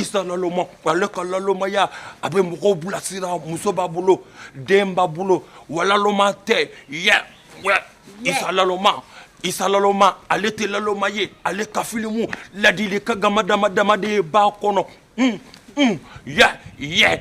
isa laloma ale ka lalomaya a bɛ mɔgɔw bilasira muso b'a bolo den b'a bolo wa laloma tɛ yɛ wɛ isa laloma isa laloma ale tɛ laloma ye ale ka filimu ladilikan gama dama dama de b'a kɔnɔ un un yɛ yɛ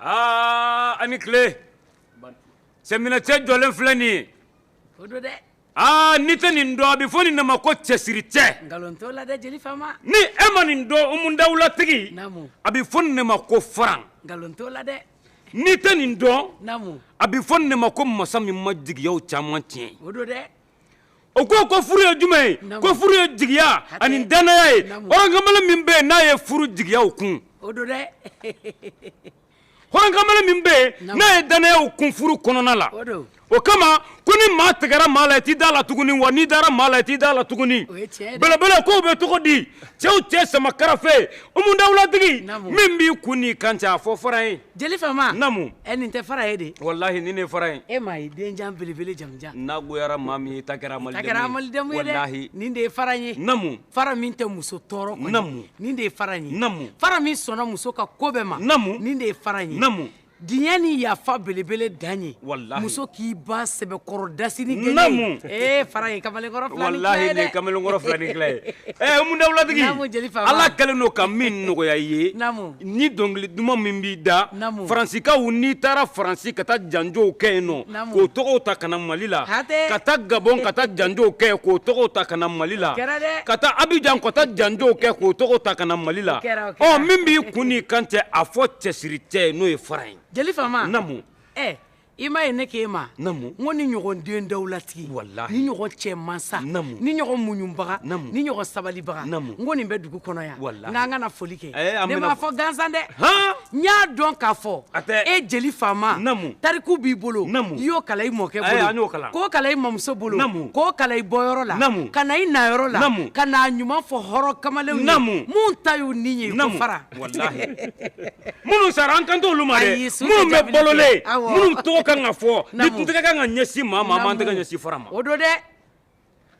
aa a ni tile sɛminɛcɛ jɔlen filɛ nin ye o don dɛ aa n'i tɛ nin dɔn a bɛ fɔ nin de ma ko cɛsiri cɛ nkalon t'o la dɛ jeli fama ni e ma nin dɔn umu dawulatigi naamu a bɛ fɔ nin de ma ko faran nkalon t'o la dɛ n'i tɛ nin dɔn naamu a bɛ fɔ nin de ma ko masa min ma jigiyaw caman tiɲɛ o don dɛ o ko ko furu ye jumɛn ye ko furu ye jigiya ani danaya ye hɔrɔnkamalen min bɛ n'a ye furu jigiyaw kun hɔrɔnkamalen min bɛ n'a ye danayaw kun furu kɔnɔna la o kama ko ni maa tigɛra maa la i t'i da la tuguni wa n'i dara maa la i t'i da la tuguni belebele kow bɛ cogo di cɛw cɛ sama karafe umu dawulatigi min b'i kun ni kan cɛ a fɔ fara ye Jeli fama namu ɛ nin tɛ fara ye dɛ walahi nin de fara ye e ma ye denjan belebele jamujan n'a goyara maa min ye i ta kɛra malidenmu ye dɛ nin de ye fara ye namu fara min tɛ muso tɔɔrɔ namu nin de ye fara ye namu fara min sɔnna muso ka ko bɛɛ ma namu nin de ye fara ye namu diɲɛ ni yafa belebele dan ye wala muso k'i ba sɛbɛkɔrɔ das ni namu e fara ye kamalen kamalenla kamalenkɔrɔ fila ni tila ye ɛ umu dawulatigi ala kɛlen don ka min nɔgɔya i ye Ni dɔnkili duman min b'i da faransikaw n'i taara faransi ka taa janjow kɛ yen nɔ k'o tɔgɔw ta ka na mali la ka taa gabɔn ka taa janjow kɛ k'o tɔgɔw ta ka na mali la ka taa abijan ka taa janjow kɛ k'o tɔgɔw ta ka na mali la ɔ min b'i kun kan cɛ a fɔ cɛsiri cɛ n'o ye fara ye i ma ye ne k'e ma n ko ni ɲɔgɔn den dawulatigi ni ɲɔgɔn cɛ mansa ni ɲɔgɔn muɲubaga ni ɲɔgɔn sabalibaga n ko nin bɛ dugu kɔnɔ yan n k'an kana foli kɛ eh, ne m'a fɔ gansan dɛ n y'a dɔn k'a fɔ e jeli faama tariku b'i bolo i y'o kalan i mɔkɛ bolo k'o kalan i mamuso bolo k'o kalan i bɔyɔrɔ la ka na i nayɔrɔ la ka n'a ɲuman fɔ hɔrɔn kamalenw ye mun ta y'u ni ye ko fara minnu sara an kan t'olu ma dɛ minnu bɛ balolen minnu tɔgɔ kan ka fɔ ni kun ka kan ka ɲɛsin maa ma an tɛ ka ɲɛsin fara ma o don dɛ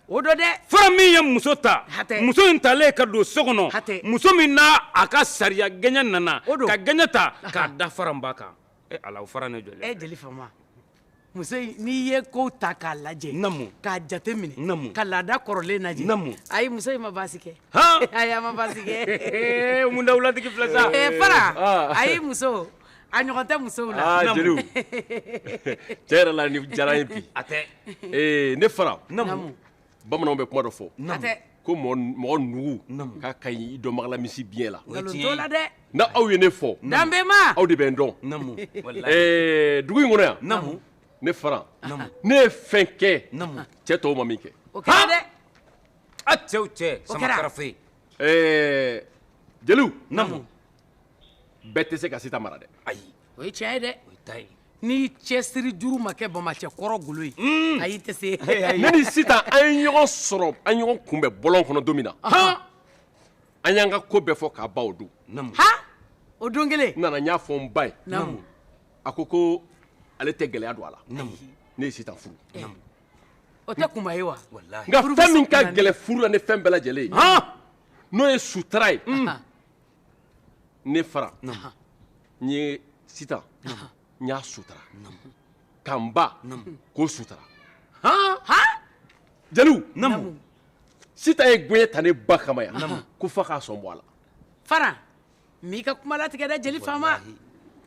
o don dɛ fara min ye muso ta muso in talen ka don so kɔnɔ muso min n'a a ka sariya gɛɲɛ nana ka gɛɲɛ ta k'a da fara ba kan ala fara ne jɔ muso in n'i ye kow ta k'a lajɛ namu k'a jate minɛ namu ka laada kɔrɔlen lajɛ namu ayi muso in ma baasi kɛ ayi a ma baasi kɛ umu dawulatigi filɛ sa fara ayi muso a ɲɔgɔn tɛ musow la aa jeliw tiɲɛ yɛrɛ la nin diyara n ye bi a tɛ ee ne fara namu bamananw bɛ kuma dɔ fɔ hatɛ ko mɔɔ n mɔgɔ nugu namu k'a ka ɲi i dɔnbaga la misi biɲɛ la o ye tiɲɛ ye nkalon t'o la dɛ n'aw ye ne fɔ namu danbema aw de bɛ n dɔn namu walahi ɛɛ dugu in kɔnɔ yan namu ne Faran namu ne ye fɛn kɛ namu cɛ tɔw ma min kɛ o kɛra dɛ a cɛ o cɛ o kɛra sama karafe ɛɛ jeliw namu bɛɛ tɛ se ka Sitan mara dɛ ayi o ye tiɲɛ ye dɛ o ye ta ye ni cɛsiri juru ma kɛ bamacɛ kɔrɔ golo ye mm. ayi tɛ se ne ni sitan an ye ɲɔgɔn sɔrɔ an ye ɲɔgɔn kunbɛn bɔlɔn kɔnɔ don min na an y'an ka ko bɛɛ fɔ k'a ban o don o don kelen n nana n y'a fɔ n ba ye a ko ko ale tɛ gɛlɛya don a la ne ye sitan furu eh. o tɛ kunba ye wa nka fɛn min ka gɛlɛn furu la ni fɛn bɛɛ lajɛlen ye n'o ye sutara ye mm. ne fara n ye sitan n y'a sutara ka n ba k'o sutara han jeliw sitan ye gɛɲɛ ta ne ba kama yan ko f'a k'a sɔn bɔ a la fara n m'i ka kuma latigɛ dɛ jeli faama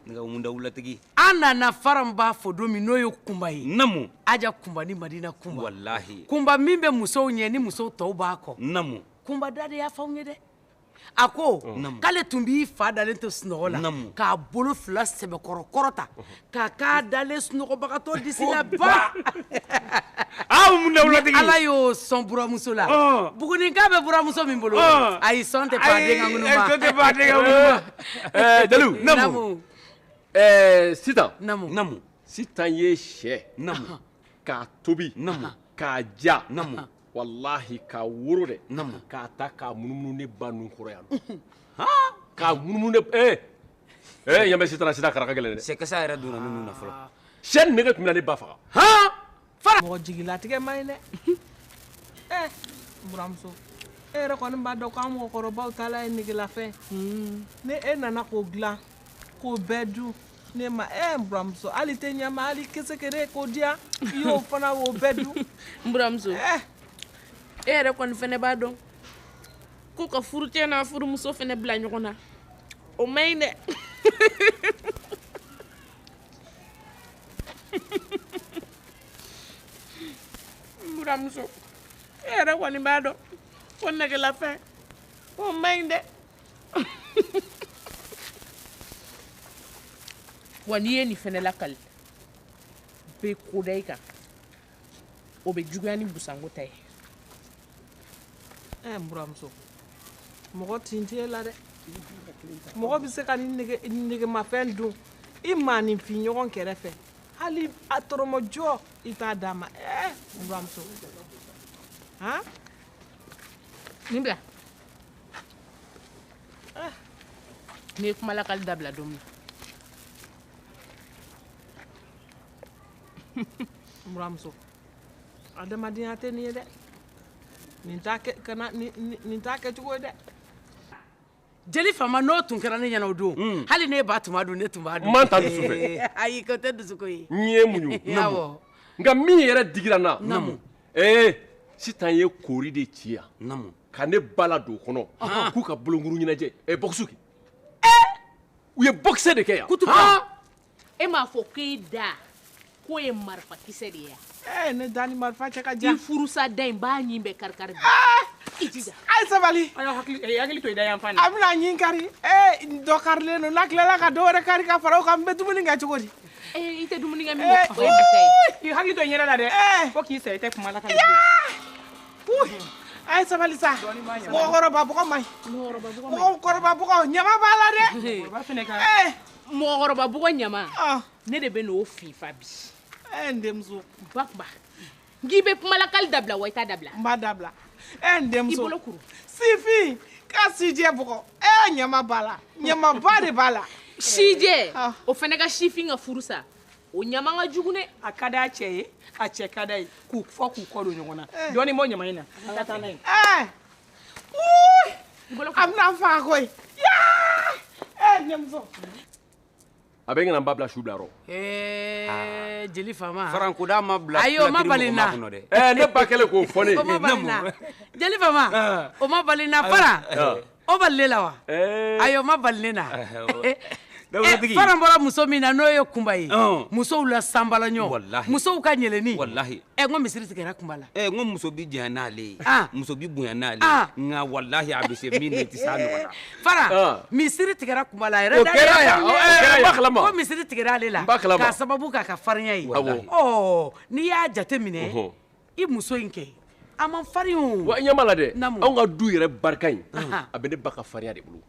namu dawulatigi an nana faran b'a fɔ don min n'o ye kunba ye namu aja kunba ni madina kunba walahi kunba min bɛ musow ɲɛ ni musow tɔw b'a kɔ namu kunba da de y'a fɔ anw ye dɛ a ko k'ale tun b'i fa dalen to sunɔgɔ la k'a bolo fila sɛbɛkɔrɔ kɔrɔta k'a k'a dalen sunɔgɔbagatɔ disi la ba Ala y'o sɔn buranmuso la buguninka bɛ buranmuso min bolo ayi sɔn tɛ pan den ka ŋunuma ayi sɔn tɛ pan den ka ŋunuma ɛɛ Jaliw namu ɛɛ Sitan namu namu Sitan ye sɛ namu k'a tobi namu k'a ja namu walahi k'a woro dɛ k'a ta k'a munumunu ne ba nun kɔrɔ yan nɔn haa k'a munumunu ne ba ee ee yanbɛ sitan a sitan kara ka gɛlɛn dɛ sɛ kasa yɛrɛ donna ne nun na fɔlɔ sɛ nin nege tun bɛ na ne ba faga haa fara mɔgɔ jigilatigɛ man ɲi dɛ ee buramuso e yɛrɛ kɔni b'a dɔn ko an mɔgɔkɔrɔbaw taala ye negelafɛn ni e nana k'o dilan k'o bɛɛ dun ne ma ɛ eh, n buramuso hali tɛ ɲɛma hali kesekere k'o diya i y'o fana o bɛɛ dun n buramuso eh. e yɛrɛ kɔni fɛnɛ b'a dɔn ko ka furucɛ n'a furumuso fɛnɛ bila ɲɔgɔn na o man ɲi dɛ n buramuso e yɛrɛ kɔni b'a dɔn ko negelafɛn o man ɲi dɛ wa n'i ye nin fɛnɛ lakali bɛ ko da i kan o bɛ juguya ni busanko ta ye ɛɛ n buramuso mɔgɔ tin t'e la dɛ mɔgɔ bɛ se ka nin nege negemafɛn dun i maaninfin ɲɔgɔn kɛrɛ fɛ hali a tɔrɔmɔjɔ i t'a d'a ma ɛɛ n buramuso han nin bila ah n'i ye kumalakali dabila don min na buramuso adamadenya tɛ nin ye dɛ nin t'a kɛ kana nin t'a kɛcogo ye dɛ jeli fama n'o tun kɛra ne ɲɛna o don hmm. hali ne ba tun b'a dun ne tun b'a dun man ta dusu fɛ ayi k'o tɛ dusuko ye n ye muɲu awɔ nka min yɛrɛ digira n na namu ee sitan ye koori de ci yan naamu ka ne ba ladon o kɔnɔ k'u ka bolokuru ɲɛnajɛ ɛ bɔkisi kɛ u ye bɔkisɛ de kɛ yan kutubu e m'a fɔ k'e da k'o ye marifa kisɛ de ye yan ee ne da ni marifa cɛ ka jan furusa da in b'a ɲin bɛɛ karikari bi i jija a ye sabali a y'a hakili eh, hakili to i da yan fan a bɛna ɲin kari ee dɔ karilen don n'a tilala ka dɔ wɛrɛ kari ka fara o kan n bɛ dumuni kɛ cogo di i tɛ dumuni kɛ min o ye bi ta ye k'i hakili to i yɛrɛ la dɛ fo k'i sa i tɛ kuma lakali a ye sabali sa mɔgɔkɔrɔba bugɔ man ɲi mɔgɔkɔrɔba bugɔ ɲama b'a la dɛ mɔgɔkɔrɔba bugɔ ɲama ne de bɛn'o fifa bi n denmuso ba kuma n k'i bɛ kumalakali dabila wa i t'a dabila. n b'a dabila ɛ eh, n denmuso. i bolo kuru. sifin ka sijɛ bugɔ ɛ eh, ɲama b'a la ɲamaba de b'a la. sijɛ ah. o fana ka sifin ka furu sa o ɲama ka jugu dɛ. a ka d'a cɛ ye a cɛ ka d'a ye k'u fɔ k'u kɔ don ɲɔgɔn na eh. dɔɔni bɔ ɲama in na ka taa n'a ye. ɛ a bɛna n fa koyi yaa ɛ n denmuso. a bɛ ɲina n ba bila su bila rɔ ɛɛ jeli faama farankoda ma bila ayi o ma bali n na ɛɛ ne ba kɛlen k'o fɔ ne ye o ma bali n na jeli faama o ma bali n na faran o bali ne la wa ayi o ma bali ne na dawulatigi faran bɔra muso min na n'o ye kunba ye musow la sanbalaɲɔ musow ka ɲɛlɛnni ɛ n ko misiri tigɛra kunba la ɛ n ko muso bi janya n'ale ye muso bi bonya n'ale ye nka walahi a bɛ se min na i tɛ s'a ɲɔgɔn na faran misiri tigɛra kunba la a yɛrɛ o kɛra yan o kɛra yan n b'a kalama ko misiri tigɛra ale la n b'a kalama k'a sababu k'a ka farinya ye awɔ ɔ n'i y'a jateminɛ i muso in kɛ a man farin o wa i ɲɛ b'a la dɛ anw ka du yɛrɛ barika in a bɛ ne ba ka farinya de bolo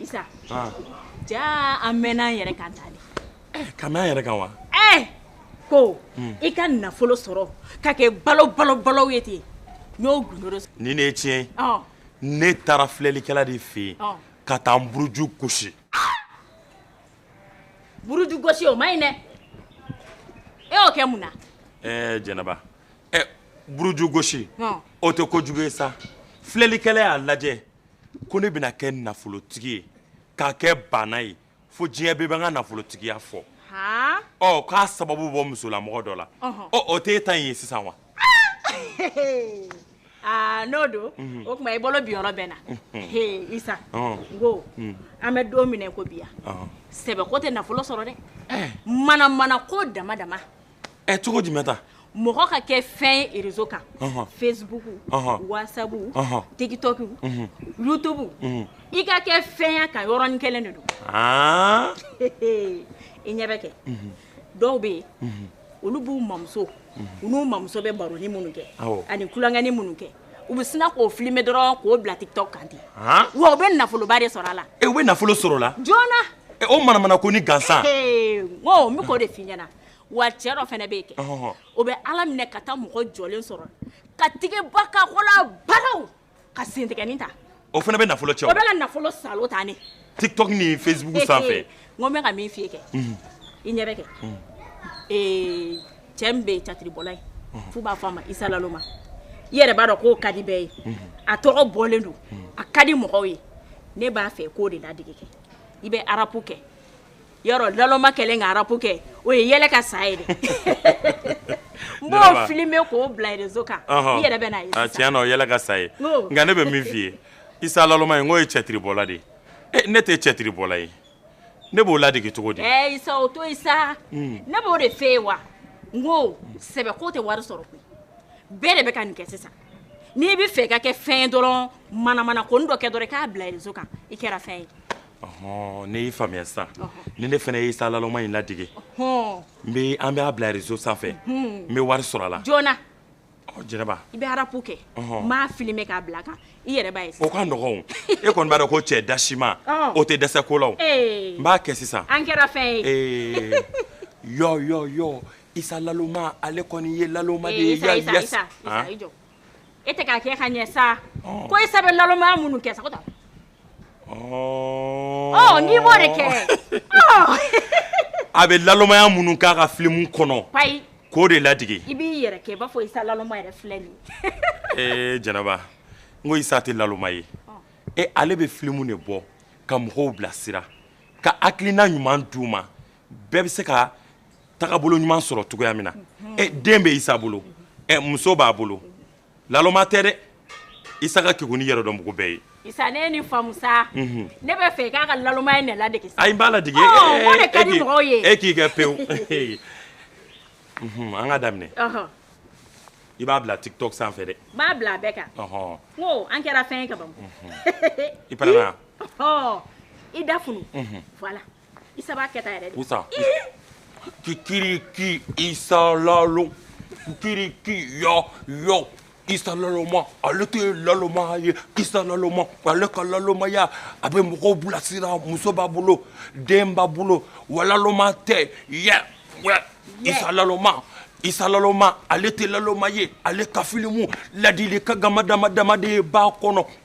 Isa ja an mɛnna an yɛrɛ kan tali ka mɛn an yɛrɛ kan wa ɛɛ ko i ka nafolo sɔrɔ ka kɛ balo balo balo ye ten n'o ni ne ye tiɲɛ ne taara filɛlikɛla de fɛ yen ka taa n buruju gosi buruju gosi o ma ɲi dɛ e y'o kɛ mun na ɛɛ jɛnɛba ɛ buruju gosi o tɛ ko jugu ye sa filɛlikɛla y'a lajɛ ko ne bɛna kɛ nafolotigi ye ka kɛ baana ye fo diɲɛ bɛɛ bɛ n ka nafolotigiya fɔ ɔ k'a sababu bɔ musolamɔgɔ dɔ la ɔ o t'e ta in ye sisan wa aa n'o don o tuma i bolo bi yɔrɔ bɛɛ na Isa n ko an bɛ don min na i ko bi yan sɛbɛ ko tɛ nafolo sɔrɔ dɛ mana-mana ko dama-dama ɛ cogo jumɛn ta mɔgɔ ka kɛ fɛn ye rezo kan facebook whatsapp tiktok youtube i ka kɛ fɛn y'a kan yɔrɔnin kelen de don i ɲɛ bɛ kɛ dɔw bɛ yen olu b'u mamuso u n'u mamuso bɛ baroni minnu kɛ ani tulonkɛni minnu kɛ u bɛ sina k'o filime dɔrɔn k'o bila tiktok kan ten wa u bɛ nafoloba de sɔrɔ a la u bɛ nafolo sɔrɔ o la joona o manamana konin gansan n ko n bɛ k'o de f'i ɲɛna wa cɛ dɔ fana bɛ yen kɛ o bɛ ala minɛ ka taa mɔgɔ jɔlen sɔrɔ ka tigɛba ka kola balaw ka sentigɛni ta o fana bɛ nafolo cɛ o bɛ nafolo sa tan ne tiktok ni facebook sanfɛ n bɛ ka min f'i ye kɛ i ɲɛ bɛ kɛ cɛ bɛ catiribɔla ye f'u b'a fɔ a ma Isa Laloma i yɛrɛ b'a dɔn k'o ka di bɛɛ ye a tɔgɔ bɔlen don a ka di mɔgɔw ye ne b'a fɛ k'o de ladege kɛ i bɛ arapu kɛ Yɔrɔ Laloma kɛlen ka arapu kɛ o ye yɛlɛ ka sa ye n b'a filime k'o bila rezo kan i yɛrɛ bɛ yɛlɛ ka sa ye nka ne bɛ min f'i ye Isa Laloma in o ye cɛtiribɔla de ye ne tɛ cɛtiribɔla ye ne b'o ladege cogo di Isa o to Isa ne b'o de fɛ wa n ko sɛbɛ ko tɛ wari sɔrɔ bɛɛ de bɛ ka nin kɛ sisan n'i bɛ fɛ ka kɛ fɛn ye dɔrɔn manamana ko dɔ kɛ dɔrɔn k'a bila rezo kan i kɛra fɛn ye ɔhɔn ne y'i faamuya sisan ni ne fana ye Isa Laloma in ladege hɔn n bɛ an b'a bila rezo sanfɛ n bɛ wari sɔrɔ a la joona ɔ jɛnɛba i bɛ arapu kɛ Ɔhɔn. n b'a filime k'a bila a kan i yɛrɛ b'a ye sisan o ka nɔgɔn o e kɔni b'a dɔn ko cɛ dasima Ɔn. o tɛ dɛsɛ ko la o Ee. n b'a kɛ sisan an kɛra fɛn ye Ee, yɔ yɔ yɔ isa laloma ale kɔni ye laloma de Ee, ye isa isa yes. isa isa Han? i jɔ e tɛ k'a kɛ ka ɲɛ sa ko Isa bɛ lalomaya minnu kɛ sa ko tan ɔ n'i b'o de kɛ a bɛ lalomaya minnu k'a ka filimu kɔnɔ ayi k'o de ladege i b'i yɛrɛ kɛ i b'a fɔ Isa laloma yɛrɛ filɛ nin ye ee Jɛnɛba n ko Isa tɛ laloma ye e ale bɛ filimu de bɔ ka mɔgɔw bilasira ka hakilina ɲuman d'u ma bɛɛ bɛ se ka tagabolo ɲuman sɔrɔ cogoya min na ɛ den bɛ isa bolo ɛ muso b'a bolo laloma tɛ dɛ isa ka kegun ni yɛrɛdɔnbugu bɛɛ ye isa ne ni faamu sa mhm. ne bɛ fɛ k'a ka lalomaya in de ladege ayi n b'a ladege o de ka di mɔgɔw ye e k'i kɛ pewu mhm, an ka daminɛ i b'a bila tiktok sanfɛ dɛ n b'a bila a bɛɛ kan n ko an kɛra fɛn ye ka ban mhm. i pɛrɛnna i da funu voilà Isa b'a kɛ tan yɛrɛ de. Usa. Kikiriki Isa lalo. Kikiriki yɔ yɔ. Isa laloma ale tɛ laloma ye Isa laloma ale ka lalomaya a bɛ mɔgɔw bilasira muso b'a bolo den b'a bolo wa laloma tɛ yɛ wɛ Isa laloma Isa laloma ale tɛ laloma ye ale ka filimu ladilikan dama dama dama de b'a kɔnɔ.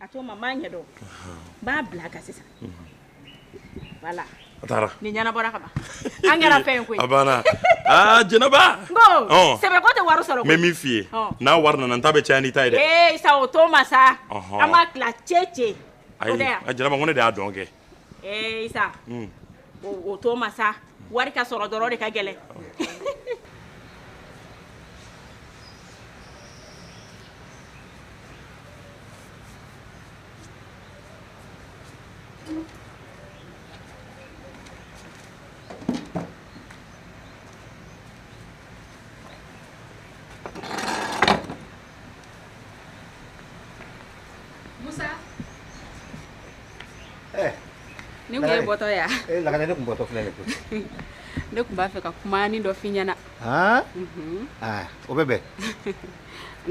a to ma maa ɲɛ dɔn n b'a bila kan sisan voilà a taara nin ɲɛnabɔra ka ban an kɛra fɛn ye koyi a banna aa jɛnɛba n ko Ɔn. sɛbɛko tɛ wari sɔrɔ n bɛ koyi min f'i ye Ɔn. n'a wari nana n ta bɛ caya n'i ta ye dɛ ee isa o to ma sa Ɔhɔn. an b'a tila cɛ cɛ o ayi tɛ yan a jɛnɛba ko ne de y'a dɔn kɛ ee isa hmm. o to ma sa wari ka sɔrɔ dɔrɔn de ka gɛlɛn Musa eh, n ko e bɔtɔ ya ee eh, lakana ne tun bɔtɔ filɛ nin ko ne tun b'a fɛ ka kumani dɔ f'i ɲɛna aa mhm. ah, o bɛ bɛn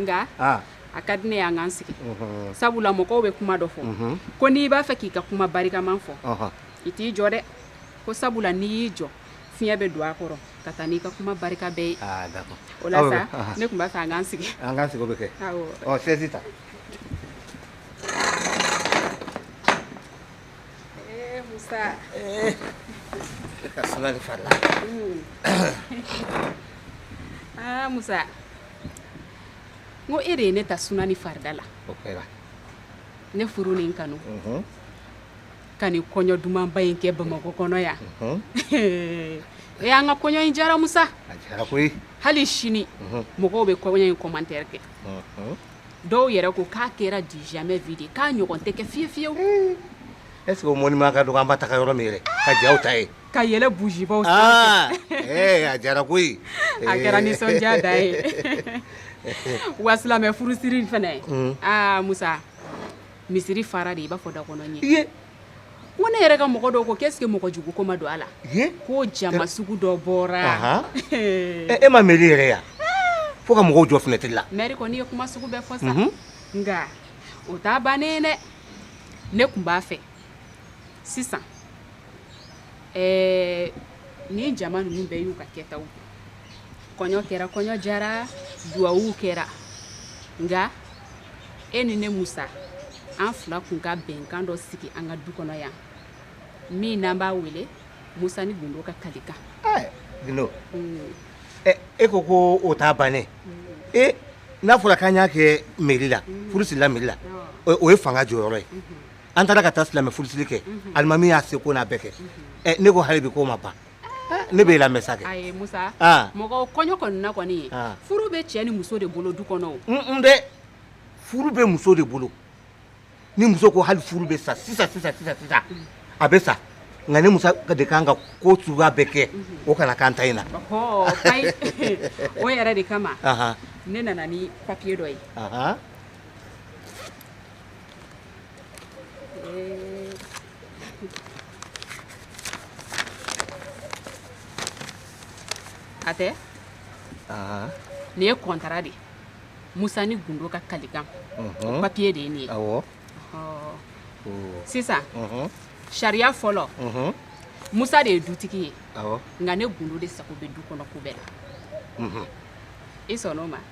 nka ah. a ka di ne y'an k'an sigi mhm. sabula mɔgɔw bɛ kuma dɔ fɔ mhm. ko n'i b'a fɛ k'i ka kuma barikaman fɔ i t'i jɔ dɛ ko sabula n'i y'i jɔ fiɲɛ bɛ don a kɔrɔ ka taa n'i ka kuma barika bɛɛ ye ah, o la sa ne tun b'a fɛ an k'an sigi an k'an sigi o bɛ kɛ ɔ sɛsi ta eh, musa eh. ka suma de fari la hmm. ah, musa n ko e de ye ne ta suna ni farida la ne furu ni n kanu mhm. ka nin kɔɲɔ dumanba in kɛ bamakɔ kɔnɔ yan e an ka kɔɲɔ in jara musa a jara koyi hali sini mɔgɔw bɛ kɔɲɔ in kɔmantɛri kɛ dɔw yɛrɛ ko k'a kɛra du jamais vu de k'a ɲɔgɔn tɛ kɛ fiye fiyewu est ce que o mɔnima ka dɔgɔ an ba taga yɔrɔ min yɛrɛ ka jaw ta ye ka yɛlɛ bujibaw ah, eh, a jara koyi a kɛra nisɔndiya dan ye wa silamɛ furusiri fana ye aa musa misiri fara dɛ i b'a fɔ dakɔnɔ ɲɛ ye ko ne yɛrɛ ka mɔgɔ dɔw ko k'est ce que mɔgɔ jugu ko ma don a la ko jama sugu dɔ bɔra e ma meri yɛrɛ yan fo ka mɔgɔw jɔ finɛtiri la mɛri kɔni ye kuma sugu bɛɛ fɔ sa nka o t'a bannen dɛ ne kun b'a fɛ sisan ɛɛ nin jama ninnu bɛɛ y'u ka kɛtaw kɔɲɔ kɛra kɔɲɔ jara duwawuw kɛra nka e ni ne musa an fila kun ka bɛnkan dɔ sigi an ka du kɔnɔ yan min n'an b'a wele musa ni gundo ka kalikan eh, gundo mm. eh, e ko ko o t'a bannen mm. e n'a fɔra k'an y'a kɛ meri la mm. furu sirila meri la o ye fanga jɔyɔrɔ ye mm-hmm. an taara ka taa silamɛ furusiri kɛ mm-hmm. alimami y'a seko n'a bɛɛ kɛ mm-hmm. eh, ne ko hali bi k'o ma ban Ne b'i lamɛn sa ayi musa mɔgɔ kɔɲɔ kɔni na kɔni ye furu bɛ cɛ ni muso de bolo du kɔnɔ n dɛ furu bɛ muso de bolo ni muso ko hali furu bɛ sa sisan sisan sisan sisan a bɛ sa nka ne musa de kan ka ko suguya bɛɛ kɛ o kana k'an ta in na o yɛrɛ de kama ne nana ni papiye dɔ ye a tɛ nin ye kɔntara de ye musa ni gundo ka kalikan o papiye de ye nin ye sisan sariya fɔlɔ musa de ye dutigi ye nka ne gundo de sago bɛ du kɔnɔ ko bɛɛ la i sɔnn'o ma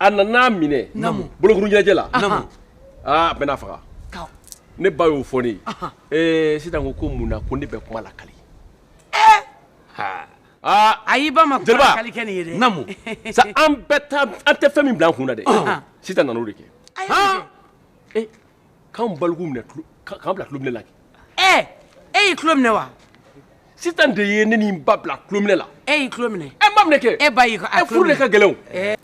a nana minɛ bolokuru ɲɛnajɛ la aa bɛna faga ne ba y'o fɔ ne ye sitan ko ko mun na ko ne bɛ kuma lakali a y'i ba kali kɛ nin ye namu sa an bɛ taa an tɛ fɛn min bil'an kun na dɛ sitan nana o de kɛ k'anw balikuw minɛ k'an bila tulominɛ la kɛ ɛɛ e y'i tulo minɛ wa sitan de ye ne ni n ba bila tulominɛ la e y'i tulo minɛ ɛ n b'a minɛ kɛ e ba y'i ka ɛ furu de ka gɛlɛn o ɛɛ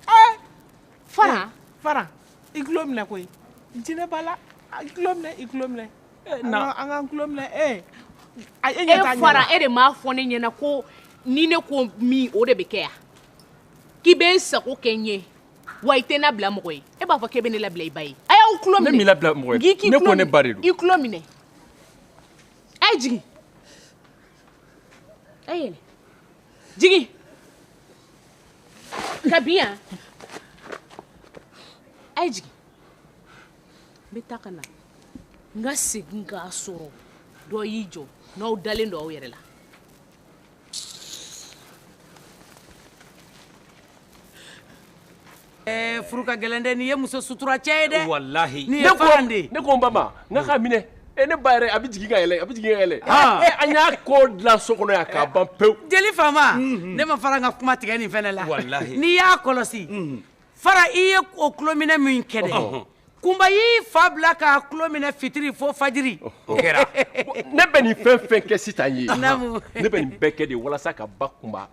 fara fara i tulo minɛ koyi jinɛ b'a la i tulo minɛ i tulo minɛ na an k'an tulo minɛ ee e ɲɛ t'a ɲɛ e fara e de m'a fɔ ne ɲɛna ko ni ne ko min o de bɛ kɛ yan k'i bɛ n sago kɛ n ye wa i tɛ n labila mɔgɔ ye e b'a fɔ k'e bɛ ne labila i ba ye a y'aw tulo minɛ ne m'i labila mɔgɔ ye ne ko ne ba de don i tulo minɛ a ye jigin a ye yɛlɛ jigin ka bin yan a ye jigin n bɛ taa ka na n ka segin k'a sɔrɔ dɔ y'i jɔ n'aw dalen don aw yɛrɛ la Eh, furu ka gɛlɛn dɛ n'i ye muso sutura cɛ ye dɛ walahi n'i ye faran de ye ne ko n ba ma n ka k'a minɛ e ne ba yɛrɛ a bɛ jigin ka yɛlɛ a bɛ jigin ka yɛlɛ Ah. Eh, an y'a ko dilan so kɔnɔ yan k'a ban pewu jeli faama ne ma faran ka kuma tigɛ nin fɛnɛ la Walahi. n'i y'a kɔlɔsi fara i ye o tulominɛ min kɛ dɛ kunba y'i fa bila k'a tulo minɛ fitiri fo fajiri o kɛra ne bɛ nin fɛn fɛn kɛ sitan ye naamu ne bɛ nin bɛɛ kɛ de walasa ka ba kunba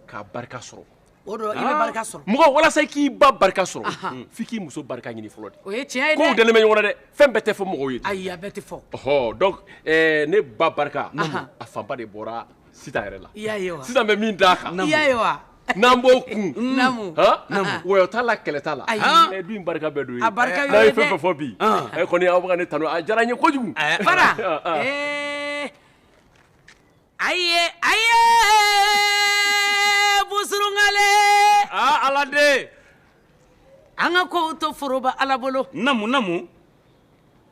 ka barika sɔrɔ o don i bɛ barika sɔrɔ mɔgɔ walasa i k'i ba barika sɔrɔ f'i k'i muso barika ɲini fɔlɔ de o ye tiɲɛ ye dɛ kow dalen bɛ ɲɔgɔn na dɛ fɛn bɛɛ tɛ fɔ mɔgɔw ye ten ayi a bɛɛ tɛ fɔ ɔhɔ donc ɛɛ ne ba barika a fanba de bɔra sitan yɛrɛ la i y'a ye wa sitan bɛ min d'a kan i y'a ye wa n'an b'o kun namu wɔyɔ t'a la kɛlɛ t'a la ayi du in barika bɛɛ don a ye a barika n'aw ye fɛn fɛn fɔ bi e kɔni aw bɛ ka ne tanu a diyara n ye kojugu fara ayi ayi busurunkale ala de an ka kow to foroba ala bolo namu namu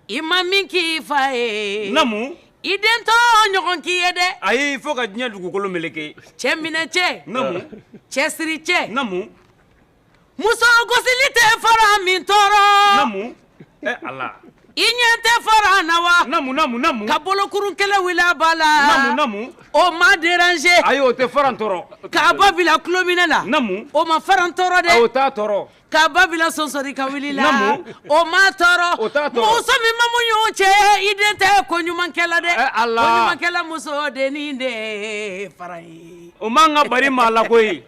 I ma min k'i fa ye namu i den t'o ɲɔgɔn k'i ye dɛ ayi fo ka diɲɛ dugukolo meleke cɛ minɛ cɛ namu cɛ siri cɛ namu muso gosili tɛ faran min tɔɔrɔ namu ala i ɲɛ tɛ faran na wa namu ka bolokuru kelen wili a ba la namu o ma déranger ayi o tɛ faran tɔɔrɔ k'a ba bila tulominɛ na namu o ma faran tɔɔrɔ dɛ o t'a tɔɔrɔ K'a ba bila sonsori ka wili la namu o m'a tɔɔrɔ o t'a tɔɔrɔ muso min ma muɲu cɛ i den tɛ koɲumankɛla dɛ ala koɲumankɛla muso den de fara ye o man ka bari maa la koyi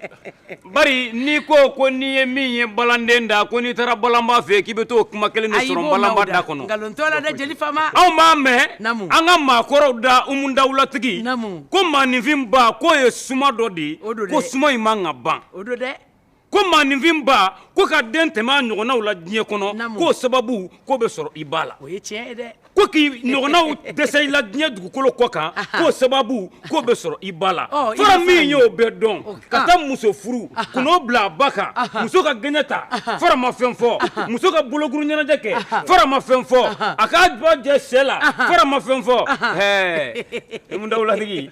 bari n'i ko ko n'i ye min ye balanden da ko n'i taara balanba fɛ k'i bɛ t'o kuma kelen de sɔrɔ balanba da kɔnɔ nkalon t'o la dɛ jeli faama anw b'a mɛn an ka maa kɔrɔw da umu dawulatigi ko maaninfin ba k'o ye suma dɔ de ye ko suma in man ka ban ko maaninfin ba ko ka den tɛmɛ a ɲɔgɔnnaw la diɲɛ kɔnɔ k'o sababu k'o bɛ sɔrɔ i ba la o ye tiɲɛ ye dɛ ko k'i ɲɔgɔnnaw dɛsɛ i la diɲɛ dugukolo kɔ kan k'o sababu k'o bɛ sɔrɔ i ba la fara min y'o bɛɛ dɔn ka taa muso furu ka n'o bila a ba kan muso ka gɛɲɛ ta fara ma fɛn fɔ muso ka bolokuru ɲɛnajɛ kɛ fara ma fɛn fɔ a k'a ba jɛ sɛ la fara ma fɛn fɔ ɛɛ Umu dawulatigi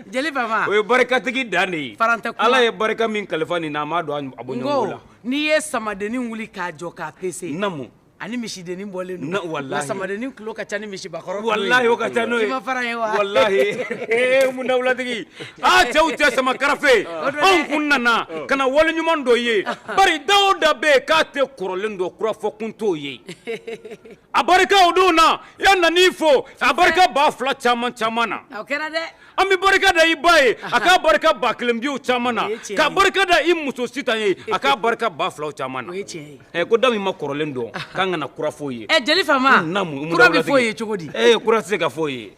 Jeli faama o ye barikatigi dan de ye farantɛ kuma Ala ye barika min kalifa nin na a m'a don a bɔɲɔgɔnko la n ko n'i ye samadennin wuli k'a jɔ k'a pese naamu a ni misidennin bɔlen don na walahi nka samadennin tulo ka ca ni misibakɔrɔ tulo ye walahi o ka ca n'o ye i ma fara ye wa walahi ee umu dawulatigi aa cɛw cɛ sama karafe anw kun nana ka na waleɲumandɔn ye bari da o da bɛ yen k'a tɛ kɔrɔlen dɔn kura fɔ kun t'o ye A barika o don na i yan nan'i fo a barika ba fila caman caman na o kɛra dɛ an bɛ barika da i ba ye a ka barika ba kelen biw caman na ka barika da i muso sitan ye a ka barika ba fila caman na ko da min ma kɔrɔlen dɔn k'an kana kura f'o ye jeli faama kura bɛ f'o ye cogo di e kura tɛ se ka f'o ye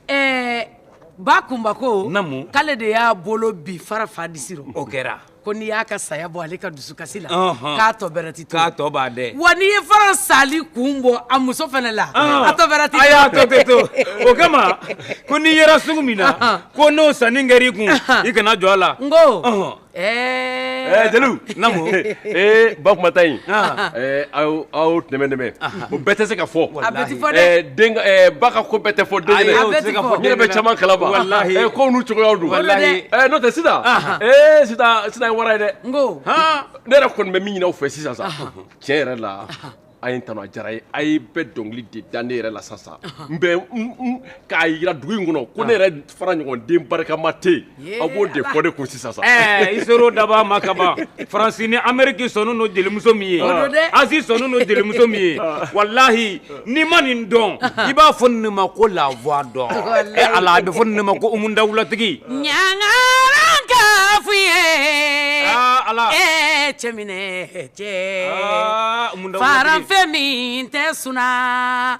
ba kunba ko k'ale de y'a bolo bi fara fa disi rɔ o kɛra ko n'i y'a ka saya bɔ ale ka dusukasi la Ɔnhɔn. k'a tɔ bɛrɛ ti to K'a tɔ b'a dɛ. wa n'i ye fara sali kun bɔ a muso fana la Ɔnhɔn. a tɔ bɛrɛ ti a y'a tɔ tɛ to o kama ko n'i yera sugu min na Ɔnhɔn. ko n'o sanni kɛr'i kun Ɔnhɔn. i kana jɔ a la n ko Ɔnhɔn. ɛɛ Ɛɛ, Jeliw. Naamu. Ee, ba kumata in. Ɔnhɔn. Ɛɛ, aw aw nɛmɛnɛmɛ. o bɛɛ tɛ se ka fɔ a bɛɛ tɛ fɔ dɛ ba ka ko bɛɛ tɛ fɔ den ye ne bɛ caman kalama kow n'u cogoyaw don n'o tɛ sisan ee sitan ye wara ye dɛ n ko ne yɛrɛ kɔni bɛ min ɲini aw fɛ sisan sa tiɲɛ yɛrɛ la a ye n tanu a diyara n ye a ye bɛɛ dɔnkili de da ne yɛrɛ la sa sa n bɛ k'a jira dugu in kɔnɔ ko ne yɛrɛ fara ɲɔgɔn den barikama tɛ yen aw b'o de fɔ ne kun sisan sa ɛɛ i ser'o daba ma ka ban faransi ni ameriki sɔnnen don jelimuso min ye o don dɛ azi sɔnnen don jelimuso min ye walahi n'i ma nin dɔn i b'a fɔ nin ma ko la voix d'or ɛ ala a bɛ fɔ nin ma ko umu dawulatigi ɲangaran ka f'u ye aa ala ee cɛminɛ cɛ aa umu dawulatigi faranfɛ min tɛ suna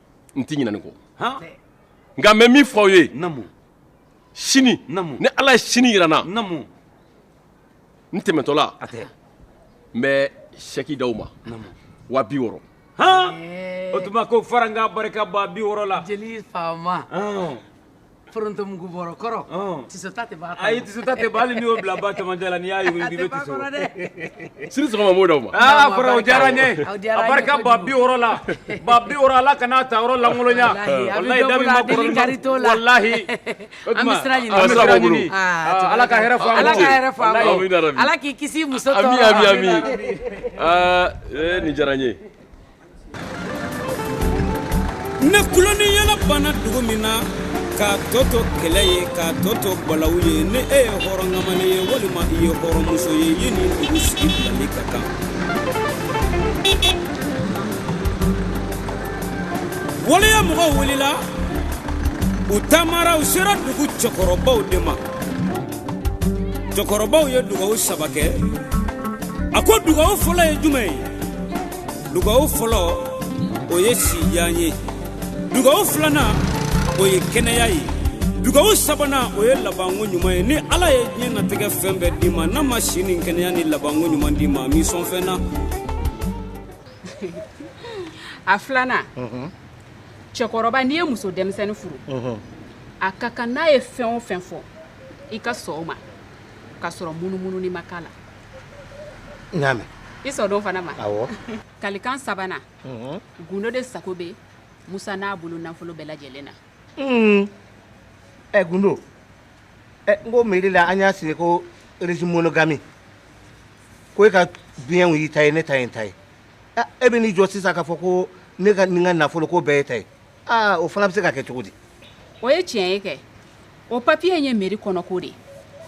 n tɛ ɲinɛ nin kɔ nka n bɛ min fɔ aw ye sini ni ala ye sini jira n na n tɛmɛtɔla n bɛ sɛki d'aw ma wa bi wɔɔrɔ o tuma ko fara n k'a barika ba bi wɔɔrɔ la jeli faama foronto mugu bɔrɔ kɔrɔ tisota tɛ b'a kɔnɔ ayi tisota tɛ b'a hali n'i y'o bila ba cɛmancɛ la n'i y'a yugu yugu i bɛ tiso a tɛ b'a kɔnɔ dɛ sini sɔgɔma m'o d'aw ma aa fara o diyara n ye a barika ba bi wɔɔrɔ la ba bi wɔɔrɔ ala kana a ta yɔrɔ lankolonya walahi da min ma kɔrɔ walahi o tuma an bɛ sira ɲini an bɛ sira ɲini ala ka hɛrɛ fɔ an ala ka hɛrɛ fɔ an ala k'i kisi muso tɔɔrɔ ma ami ami ami aa nin diyara n ye ni tulon ni yɛlɛ banna dugu min na k'a tɔ to kɛlɛ ye k'a tɔ to balawu ye ni e ye hɔrɔnkamalen ye walima i ye hɔrɔnmuso ye i ye nin dugu sigi bilali ka kan waleya mɔgɔw wulila u taamara u sera dugu cɛkɔrɔbaw de ma cɛkɔrɔbaw ye dugawu saba kɛ a ko dugawu fɔlɔ ye jumɛn ye dugawu fɔlɔ o ye sijan ye dugawu filanan o ye kɛnɛya ye dugawu sabanan o ye labanko ɲuman ye ni ala ye diɲɛ natigɛ fɛn bɛɛ d'i ma n'a ma si ni kɛnɛya ni labanko ɲuman d'i ma m'i sɔn fɛn na a filanan mhm. cɛkɔrɔba n'i ye muso denmisɛnnin furu mhm. a ka kan n'a ye fɛn o fɛn fɔ i ka sɔn o ma k'a sɔrɔ munumununi ma k'a la n y'a mɛn i sɔnn'o fana ma awɔ kalikan sabana gundo de sago bɛ musa n'a bolo nafolo bɛɛ lajɛlen na ɛ eh, gundo ɛ eh, n ko meri la an y'a siɲe ko régime monogami ko e ka biyɛnw y'i ta ye ne ta ye n ta ye eh, e bɛ n'i jɔ sisan k'a fɔ ko ne ka nin ka nafolo ko bɛɛ y'e ta ye aa o fana bɛ se ka kɛ cogo di o ye tiɲɛ ye kɛ o papiye in ye meri kɔnɔko de ye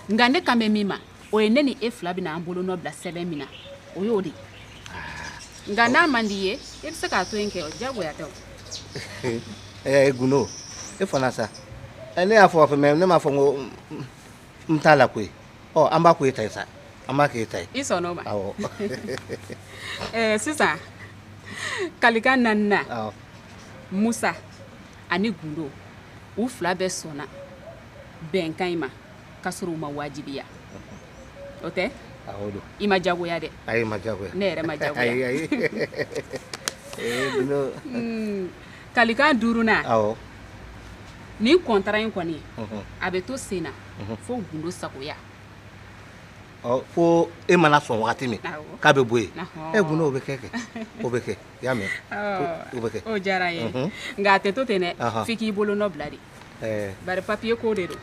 nka ne kan bɛ min ma o ye ne ni e fila bɛna an bolo nɔ bila sɛbɛn min na o y'o de ye nka n'a man di i ye i bɛ se k'a to yen kɛ o diyagoya tɛ o ɛɛ gundo e fana sa ɛ, ne y'a fɔ a fɛ mɛ ne m'a fɔ n ko n- n- n t'a la koyi ɔ an b'a ko e ta ye sa an b'a k'e ta ye i sɔnn'o ma awɔ ɛɛ sisan kalikan naaninan awɔ musa ani gundo u fila bɛɛ sɔnna bɛnkan in ma k'a sɔrɔ u ma wajibiya o tɛ i ma jagoya dɛ ne yɛrɛ ma jagoya eh, hmm, kalikan duurunan nin kɔntara in kɔni mhm. a bɛ to sen na mhm. fo gundo sagoya fo e mana sɔn wagati min k'a bɛ bɔ yen e gundo o bɛ kɛ kɛ o bɛ kɛ i y'a mɛn o bɛ kɛ o diyara n ye nka a tɛ to ten dɛ f'i k'i bolo nɔ bila de bari papiye ko de don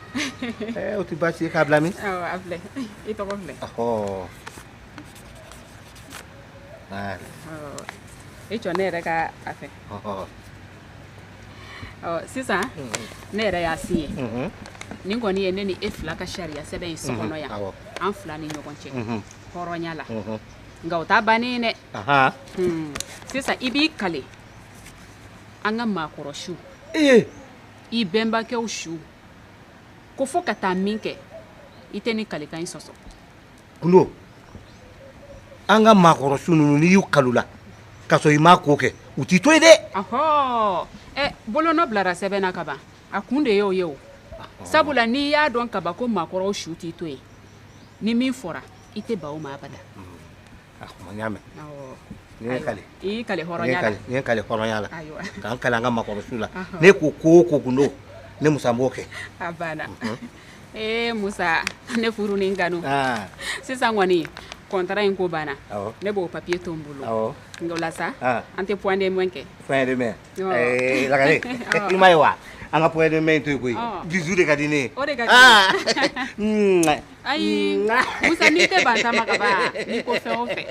o tɛ baasi ye k'a bila min a filɛ i tɔgɔ filɛ i jɔ ne yɛrɛ ka a filɛ sisan ne yɛrɛ y'a siɲe nin kɔni ye ne ni e fila ka sariya sɛbɛn ye so kɔnɔ yan an fila ni ɲɔgɔn cɛ hɔrɔnya la nka o ta bannen dɛ hmm. sisan i b'i kale an ka maakɔrɔ su eh. i bɛnbakɛw su ko fo ka taa min kɛ i tɛ nin kalekan in sɔsɔ gundo an ka maakɔrɔ su ninnu n'i y'u kal'u la k'a sɔrɔ i m'a ko kɛ u t'i to yen dɛ ɔhɔ ɛ bolonɔ bilara sɛbɛn na ka ban a kun de y'o ye o sabula n'i y'a dɔn ka ban ko maakɔrɔw su t'i to yen ni min fɔra i tɛ ban o ma abada a kuma n y'a mɛn n'i y'i kale i y'i kale hɔrɔnya la n ye kale hɔrɔnya la ka n kale an ka maakɔrɔ su la ne ko ko o ko gundo ne musa b'o kɛ a banna mhm. ee musa ne furu ni n kanu ah. sisan kɔni contrat in ko banna ne b'o papier to n bolo nka o la sa ah. an tɛ point de main kɛ point de main eh, lagare i ma ye wa an ka point de main to yen koyi bisu de ka di ne ye o de ka di ah. ayi musa n'i tɛ ban ta ma ka ban n'i ko fɛn o fɛn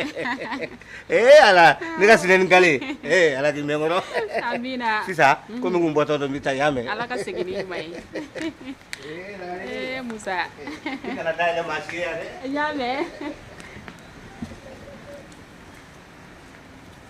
ee ala ne ka sinɛ ni kale ee ala k'i mɛn n kɔrɔ amina sisan komi n kun bɔtɔ don n bɛ taa y'a mɛn ala ka segin n'i ɲuman ye ee musa i kana da yɛlɛ maa si ye yan dɛ n y'a mɛn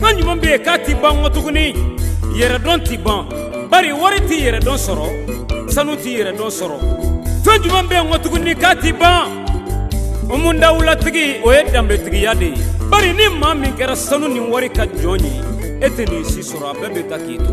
Fɛn juman bɛ yen k'a tɛ ban ŋɔ tuguni yɛrɛdɔn tɛ ban bari wari tɛ yɛrɛdɔn sɔrɔ sanu tɛ yɛrɛdɔn sɔrɔ fɛn juman bɛ yen ŋɔ tuguni k'a tɛ ban o mun dawulatigi o ye danbetigiya de ye bari ni maa min kɛra sanu ni wari ka jɔn ye e tɛ nin si sɔrɔ a bɛɛ bɛ taa k'i to